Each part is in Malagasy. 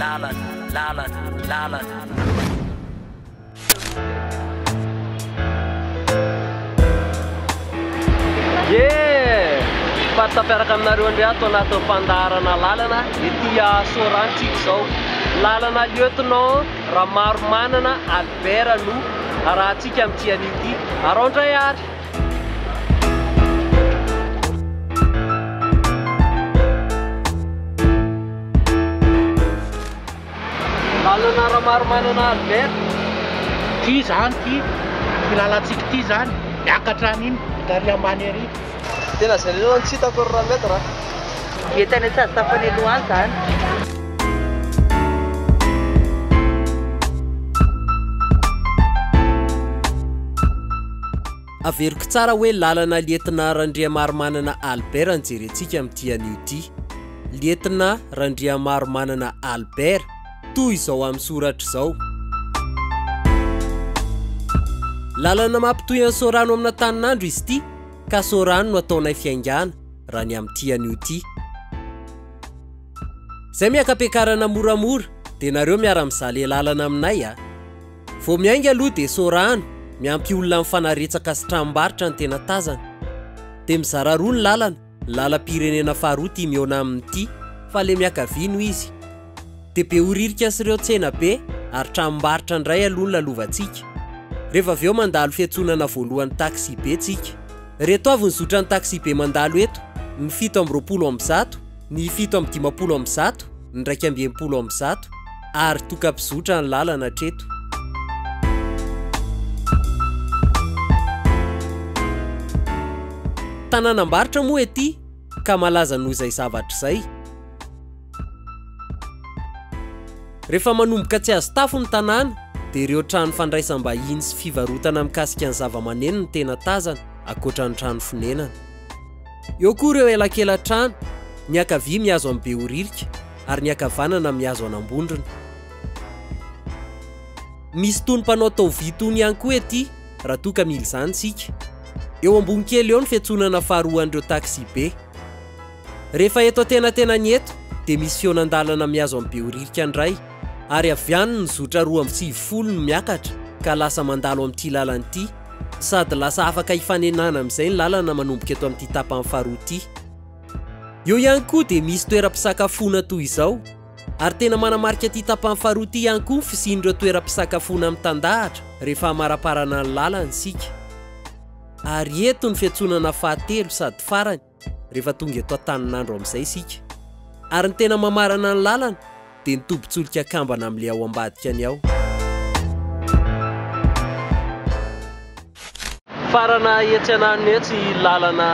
Lalana, lalana, lalana. Faty tapiaraka aminareo indray ato anatin'ny fandaharana lalana ity Sorantsika izao. Lalana lieutenant Ramaromanana Albert no arahantsika amin'ity anio ity. Arao indray ary. Lalana Ramaromanana Albert, ity izany ity, ity lalantsika ity izany, miakatra any iny, vita ary ambany ary. Tena izay lehilahy no tsy hitako ry Rametra a. Dia tany Antsahasafo any aloha any izany. Averiko tsara hoe lalana lietnà Randriamarimanana Albert no jerentsika amin'ity anio ity. Lietnà Randriamarimanana Albert, toy izao amin'ny soratra izao. Lalana mampitohy an'i Sorano amin'Antaninandro izy ity, ka Sorano no ataonay fiaingàna, raha ny amin'ity anio ity. Izay miaka-piakarana moramora, dia nareo miara-mizale lalana aminay a! Vao miainga aloha dia sorahana, miampy olona amin'ny fanaretsaka sy tranombarotra ny tena tazana. Dia mizara roa ny lalana, ny lalam-pirenena faharoa ity mihaona amin'ity, fa ilay miakavia no izy. Dia behoririka sy ireo tsena be ary tranombarotra indray aloha ny lalovantsika. Rehefa avy eo mandalo fiantsonana voalohan'ny taxi-be tsika. Ireto avy ny zotran'ny taxi-be mandalo eto, ny fito amby roapolo amby zato. ny fito amby dimampolo amby zato, ny iraika amby enimpolo amby zato, ary toka mpizotra ny lalana hatreto. Tanànam-barotra moa ety ka malaza noho izay zavatra izay. Rehefa manomboka tsy azo tafo ny tanàna dia ireo trano fandraisam-bahiny sy fivarotana mikasika ny zavamaneno no tena tazana, ankoatra ny trano fonenana. Eo koa ireo elakelan-trano, ny ankavia mihazo an'i Behoririka ary ny ankavanana mihazo an'Ambondrona. Misy itony mpanao taovy itony ihany koa ety raha toa ka mila izany isika. Eo ambony kely eo ny fiantsonana faharoan'ireo taxi-be. Rehefa eto antenatenany eto dia misy fihaonan-dalana mihazo an'i Behoririka indray ary avy any ny zotra roa amby sivifolo no miakatra ka lasa mandalo amin'ity lalana ity. Sady lasa afaka hifanenana amin'izay ny lalana manomboka eto amin'ity tapany faharoa ity. Eo ihany koa dia misy toeram-pisakafoana toy izao ary tena manamarika ity tapany faharoa ity ihany koa ny fisian'ireo toeram-pisakafoana mitandahatra rehefa hamaraparana ny lalana isika. Ary eto ny fiantsonana fahatelo sady farany. rehefa tonga eto Antaninandro amin'izay isika. Ary ny tena mamarana ny lalana dia ny tobin-tsolika kambana amin'ilay ao ambadika ny ao. Farana etsy ananiny etsy i lalana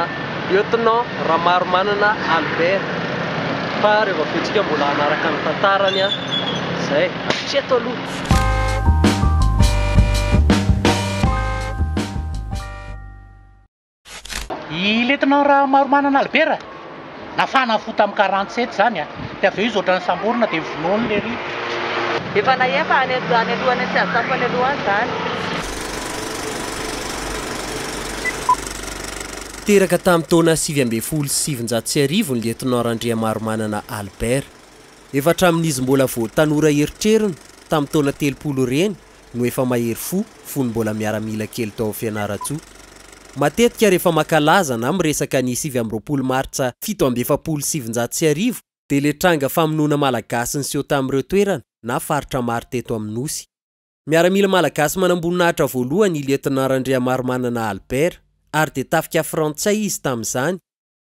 Lieutenant Ramarimanana Albert fa rehefa avy eo tsika mbola hanaraka ny tantarany an! Izay! Hatreto aloha! I Lieutenant Rahamaromanana Albert nafahana fo tamin'ny quarante sept izany a! Dia avy eo izy ohatran'ny samborina dia vonoiny lery. Efa nahia fa any any aloha any tsy azo tafo any aloha any izany. Teraka tamin'ny taona sivy ambin'ny folo sy sivinjato sy arivo ny Lieutenant Randriamaromanana Albert. Efa hatramin'izy mbola vao tanora eritreriny tamin'ny taona telopolo ireny no efa mahery fo fony mbola miaramila kely tao Fianarantsoa. Matetika rehefa mankalaza na miresaka ny sivy amby roapolo martsa fito amby efapolo sy sivinjato sy arivo dia le tranga famonoana Malagasy niseho tamin'ireo toerana na faritra maro teto amin'ny Nosy. Miaramila Malagasy manamboninahitra voalohany i Lieutenant Randriamarimanana Albert ary dia tafika Frantsay izy tamin'izany.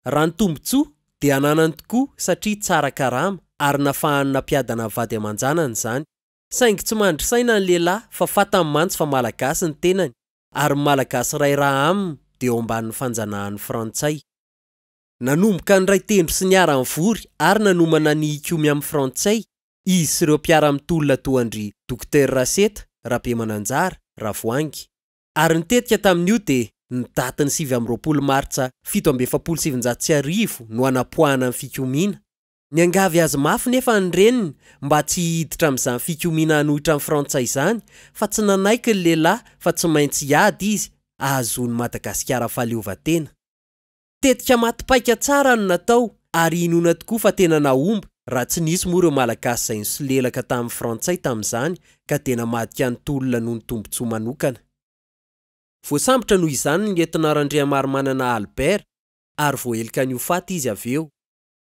Raha ny tombontsoa dia ananany tokoa satria tsara karama ary nafahany nampiadana vady aman-janany izany. Saingy tsy mandry saina ny lehilahy fa fatany mantsy fa Malagasy ny tenany ary ny Malagasy iray raha aminy dia eo ambanin'ny fanjanahan'ny Frantsay. Nanomboka niray tendro sy niara-nivory ary nanomana ny hikomy amin'ny Frantsay izy sy ireo mpiara-mitolona toa an-dry Dokotera Raseta, Rabemananjara, Ravoahangy. Ary ny tetika tamin'io dia ny datin'ny sivy amby roapolo martsa fito amby efapolo sy sivinjato sy arivo no hanapoahana ny fikomiana. Niangavy azy mafy nefa ny reniny mba tsy hihiditra amin'izany fikomiana hanohitra an'i Frantsay izany fa tsy nanaiky ny lehilahy fa tsy maintsy hiady izy ahazoan'i Madagasikara fahaleovantena. Tetika maty paika tsara no natao ary inoana tokoa fa tena nahomby raha tsy nisy moa ireo Malagasy izay nisolelaka tamin'ny Frantsay tamin'izany ka dia namadika ny tolona noho ny tombontsoa manokana. Voasambotra noho izany ny Lietnant Randriamarimanana Albert ary voaheloka ny ho faty izy avy eo.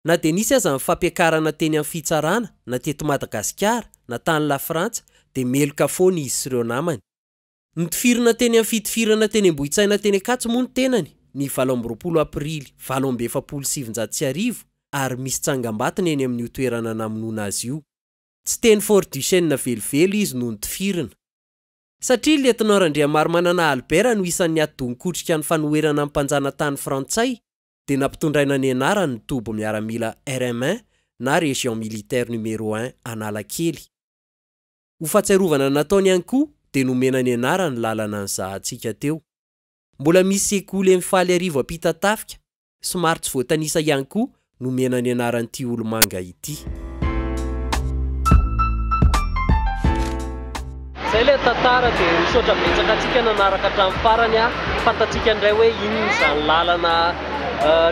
Na dia nisy aza ny fampiakarana teny amin'ny fitsarana na teto Madagasikara na tany Lafrantsa dia meloka foana izy sy ireo namany. Nitifirina teny amin'ny fitifirana teny Ambohitsaina teny Ankatso moa ny tenany ny valo amby roapolo aprily valo amby efapolo sy sivinjato sy arivo ary misy tsangambato ny eny amin'io toerana namonoana azy io. Tsy teny Fort Duchesne velively izy no nitifirina. Satria Lietnant Randriamarimanana Albert no isan'ny ati-doha nikotrika ny fanoherana ny mpanjana tany frantsay dia nampitondraina ny anarany ny toby miaramila RM un na Région Militaire Numéro un Analakely. Ho fahatsiarovana ny nataony ihany koa dia nomena ny anarany lalana nizahantsika teo. Mbola misy sekoly eny Faliarivo Ampitatafika, somary tsy voatanisa ihany koa nomena ny anaran'ity olomanga ity. Zay le tantara de misaotra betsaka antsika nanaraka hatramin'ny farany a, fantatsika indray hoe inona izany lalana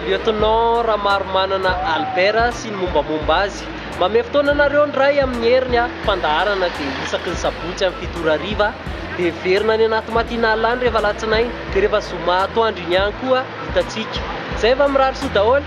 Lieutenant Ramaromanana Albert sy ny mombamomba azy. Mamehy fotoana anareo ny Ray amin'ny heriny a, fandaharana dia isaky ny sabotsy amin'ny fito ora hariva dia heverina any anaty matinale any rehefa alatsinainy dia rehefa zoma atoandro iny ihany koa hitantsika. Zay fa mirary soa daholo.